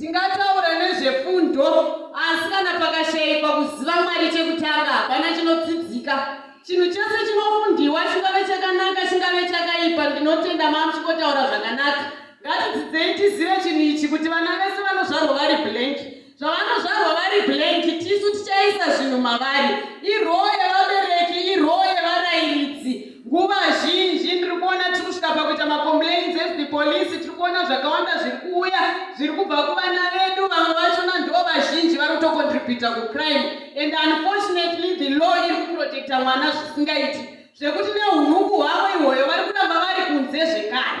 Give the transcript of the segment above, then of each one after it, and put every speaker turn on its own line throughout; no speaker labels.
Tingataura nezvefundo asi kana pakashaikwa kuziva Mwari chekutanga hapana chinodzidzika. Chinhu chose chinofundiwa chingave chakanaka chingave chakaipa ndinotenda mamuchikotaura zvakanaka. Ngatidzidzei tizive chinhu ichi kuti vana vese vanozvarwa vari blank. Zvavanozvarwa vari blank tisu tichaisa zvinhu mavari. Iroo yevabereki iroo yevarairidzi. nguva zhinji ndiri kuona tiri kusvika pakuita macomplains as the police tiri kuona zvakawanda zviri kuuya zviri kubva kuvana vedu vamwe vachona ndo vazhinji vari kutocontributa kucrime and unfortunately the law iri kuprotecta mwana zvisingaiti zvekuti neunuku hwavo ihwoyo vari kuramba vari kunze zvekare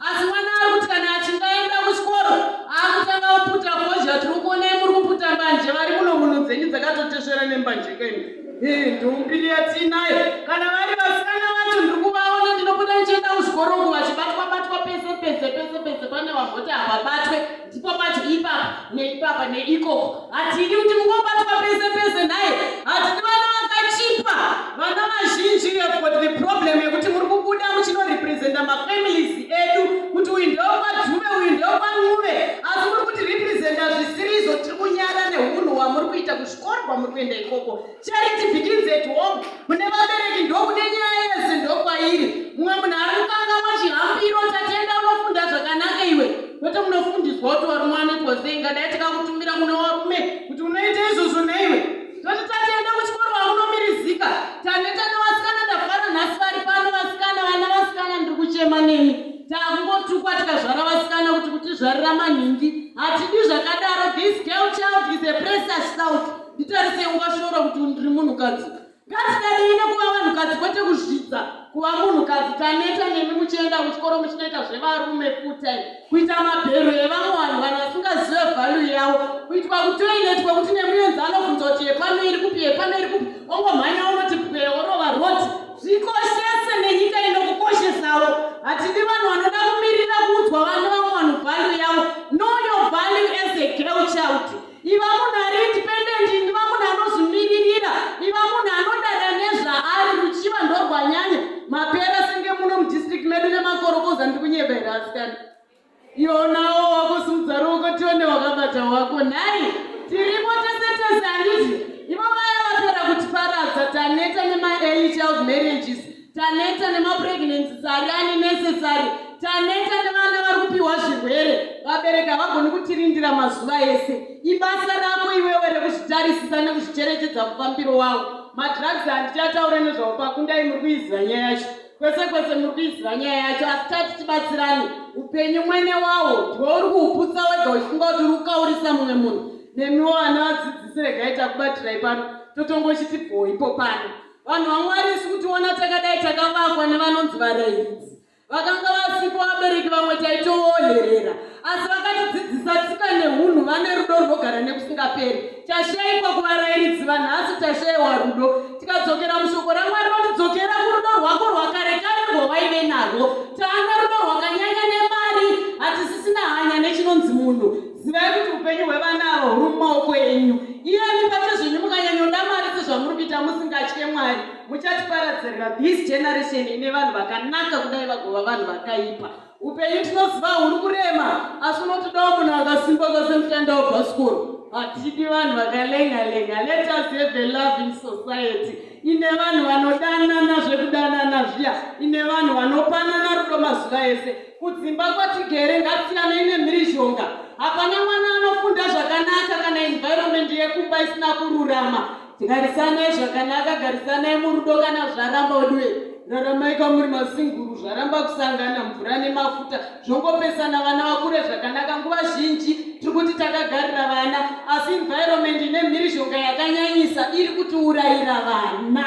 asi mwana ari kuti kana achinge aenda kuchikoro akutanga kuputa fozha tiri kuonai muri kuputa mbanje vari muno muno dzenyu dzakatotesvera nembanje keni ndombiri yatiinayo kana vari vasikana vacho ndiri kuvaona ndinobuda ndichienda kuchikoro uku vachibatwa batwa pese pese pese pese pane vamboti havabatwe ndipo pacho ipapa neipapa neikoko hatidi kuti mungobatwa pese pese nhai hatidi vana vakachipa vana vazhinji got the problem yekuti muri kubuda muchinorepresenta mafamilies edu kuti uyu ndeokwadzuve uyu ndeokwanguve asi muri kuti representa zvisirizvo tiri kunyara neunhu hwamuri kuita kuzvikoro kwamuri kuenda ikoko Charity begins at home. Mune vabereki ndokune nyaya yese ndokwairi. Mumwe munhu ari kukangamwa chihambiro tatenda unofunda zvakanaka iwe. Kwete munofundiswa kuti wari mwana it was saying ngadai takakutumira kuna warume kuti unoita izvozvo naiwe. Toti tatenda kuchikoro wakunomirizika. Taneta nevasikana ndafara nhasi vari pano vasikana vana vasikana ndiri kuchema nemi. Takungotukwa tikazvara vasikana kuti kutizvarira manhingi. Hatidi zvakadaro this girl child is a precious child. nditarise ungashora kuti ndiri munhukadzi ngatidadei nekuva vanhukadzi kwete kuzvidza kuva munhukadzi taneta nemi muchienda kuchikoro muchinoita zvevarume futi kuita mabhero evamwe vanhu vanhu vasingazive vhalu yavo kuitwa kutoinetwa kuti nemuyenzi anobvunza kuti yepano iri kupi yepano iri kupi ongomhanya unoti pwe orova roti zvikoshese nenyika inokukoshesawo hatidi vanhu vanoda kumirira kuudzwa vana vamwe vanhu vhalu yavo noyo vhalu as a girl child Iva munhu ari independent, iva munhu anozvimiririra, iva munhu anodada nezvaari ruchiva ndorwanyanya mapera senge muno mudistrict medu nemakorokoza ndi kunyebera asikana ionawo wakusimudza ruoko tione wakabata wako nhai tiripo tese tese handizvi ivo vaya vapera kutiparadza taneta nemaearly child marriages taneta nemapregnancy sari ane necessary taneta nevana vari kupiwa zvirwere vabereki havagoni kutirindira mazuva ese ibasa rako iwewe rekuzvitarisisa nekuzvicherechedza mufambiro wavo madrugs handichataure nezvavo pakundai muri kuiziva nyaya yacho kwese kwese muri kuiziva nyaya yacho asi tati tibatsirani upenyu mwene wawo ndiwo uri kuhuputsa wega uchifunga kuti uri kukaurisa mumwe munhu nemiwo vana vadzidzisi regai takubatirai pano totongochiti bhoipo pano Vanhu vaMwari isu kutiona takadai takavakwa nevanonzi varairidzi. Vakanga vasipo vabereki vamwe taitooherera, asi vakatidzidzisa tsika nehunhu vane rudo runogara nekusingaperi. Tashaikwa kuvarairidzi vanhasi tashaiwa rudo. Tikadzokera mushoko raMwari rotidzokera kurudo rwako rwakare kare rwawaive narwo. Taana rudo rwakanyanya nemari, hatisisina hanya nechinonzi munhu. zivai kuti upenyu hwevana ava huri mumaoko enyu iyani pacho zvenyu mukanyanyoda mari sezvamuri kuita musingatye mwari muchatiparadzirira this generation ine vanhu vakanaka kudai vagova vanhu vakaipa upenyu tinoziva huri kurema asi unotodawo munhu akasimba kwase mushanda wabhasikoro hatidi vanhu vakalenga lenga let us have a loving society ine vanhu vanodanana zvekudanana zviya ine vanhu vanopanana rudo mazuva ese Kudzimba kwatigere ngasiyanei nemhirizhonga. Hapana mwana anofunda zvakanaka kana environment yekumba isina kururama. Garisanai zvakanaka, garisanai murudo kana zvaramba udiwe. Raramai kwamuri masinguru, zvaramba kusangana mvura nemafuta zvongopesana vana vakure zvakanaka. Nguva zhinji tiri kuti takagarira vana, asi environment ine mhirizhonga yakanyanyisa iri kutiurayira vana.